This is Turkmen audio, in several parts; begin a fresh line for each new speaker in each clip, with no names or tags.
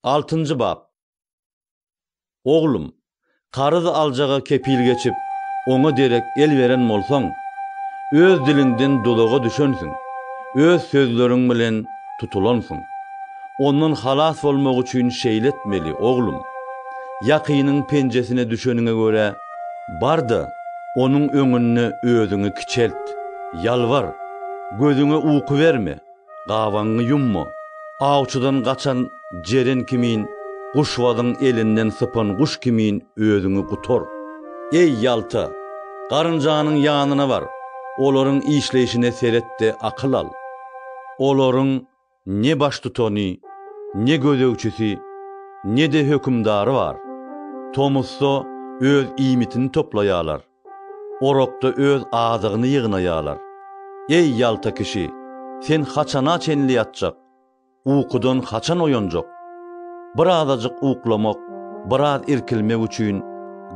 Altynjy bap. Oglum, karyz aljaga kepil geçip, oňa derek el beren bolsaň, öz diliňden duzaga düşensiň, öz sözleriň bilen tutulansyň. Ondan halas bolmak üçin şeýle etmeli, oglum, ýakynyň penjesine düşeniňe görä, bar-da, onuň öňünde özüňi kiçelt, ýalbar, gözüňe uky berme, Gabaňy ýumma. Awçydan gaçan jeren kimin, guşbazyň elinden sypan guş kimin özüňi gutar. Eý, ýalta! Garynjanyň ýanyna bar, olaryň işleýşine seret-de akyl al. Olaryň ne baştutany, ne gözegçisi, ne-de hökümdary bar. Tomusda öz iýmitini toplaýarlar. Orakda öz azygyny ýygnaýarlar. Eý, ýalta kişi, sen haçana çenli ýatjak? Ukudan haçan oýanjak? Birazajyk uklamak, biraz irkilmek üçin,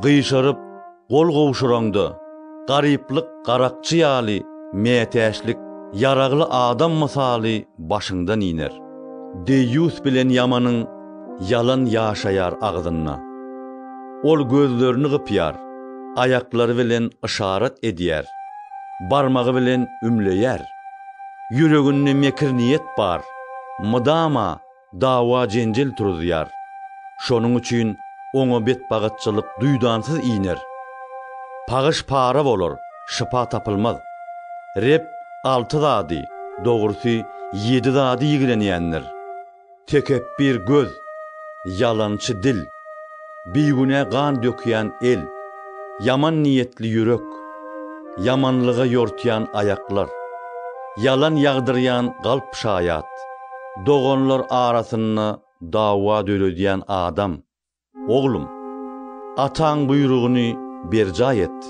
gyşaryp, gol gowşuraňda, garyplyk garakçy ýaly, mätäçlik ýaragly adam mysaly başyňdan iner. Deýýus bilen ýamanyň ýalan ýaşaýar agzynda. Ol gözlerini gypýar, aýaklary bilen yşarat edýär, barmagy bilen ümleýär. Ýüreginde mekir niýet bar, mydama dawa-jenjel turuzýar. Şonuň üçin oňa betbagytçylyk duýdansyz iner. Pagyş-para bolar, şypa tapylmaz. Reb alty zady, dogrusy, ýedi zady ýigrenýändir. Tekepbir göz, ýalançy dil, bigünä gan dökýän el, ýaman niýetli ýürek, ýamanlyga ýortýan aýaklar, ýalan ýagdyrýan galp şaýat, doganlar arasynda dawa döredýän adam. Oglum, ataň buýrugyny berjaý et,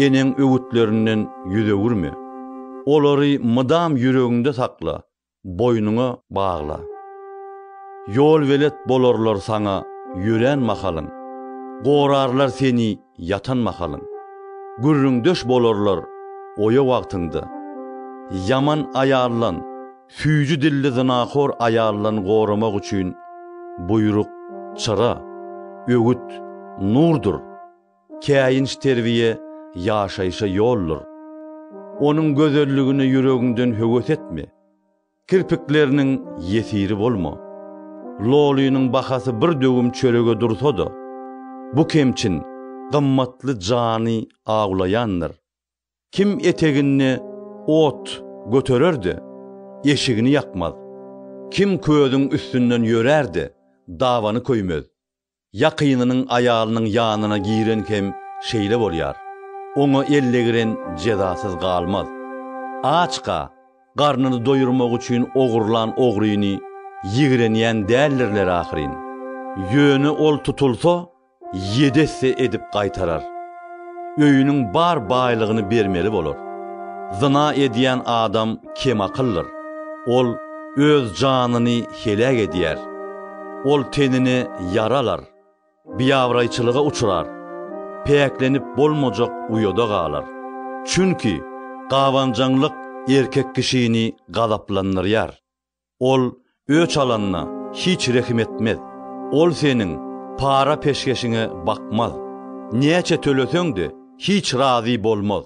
eneň öwütlerinden ýüz öwürme. Olary mydam ýüregiňde sakla, boýnuňa bagla. Ýolbelet bolarlar saňa ýörän mahalyň, gorarlar seni ýatan mahalyň. Gürrüňdeş bolarlar oýa wagtyňda. Ýaman aýaldan, süýji dilli zynahor aýaldan goramak üçin buýruk, çyra, öwüt, nurdur. Käýinç terbiýe ýaşaýşa ýoldur. Onuň gözelligine ýüregiňden höwes etme. Kirpikleriniň ýesiri bolma. Lolynyň bahasy bir döwüm çörege dursa-da, bu kemçin, gymmatly jany awlaýandyr. Kim eteginde ot göterer-de, eşigini ýakmaz. Kim közüň üstünden ýörär-de, dabany köýmez. Ýakynynyň aýalynyň ýanyna giren hem şeýle bolýar. Oňa elle giren jezasyz galmaz. Açka, garnyny doýurmak üçin ogurlan ogryny ýigrenýän däldirler ahyryn. Ýöne ol tutulsa, ýedi esse edip gaýtarar. öýüniň bar baýlygyny bermeli bolar. Zyna edýän adam kem akyllyr, ol öz janyny heläk edýär, ol tenini ýara alar, biabraýçylyga uçrar, päklenip bolmajak uýada galar. Çünki gabanjaňlyk erkek kişini gazaplandyrýar. Ol öç alanyna hiç rehim etmez. Ol seniň para-peşgeşiňe bakmaz. Näçe töleseň-de, hiç razy bolmaz.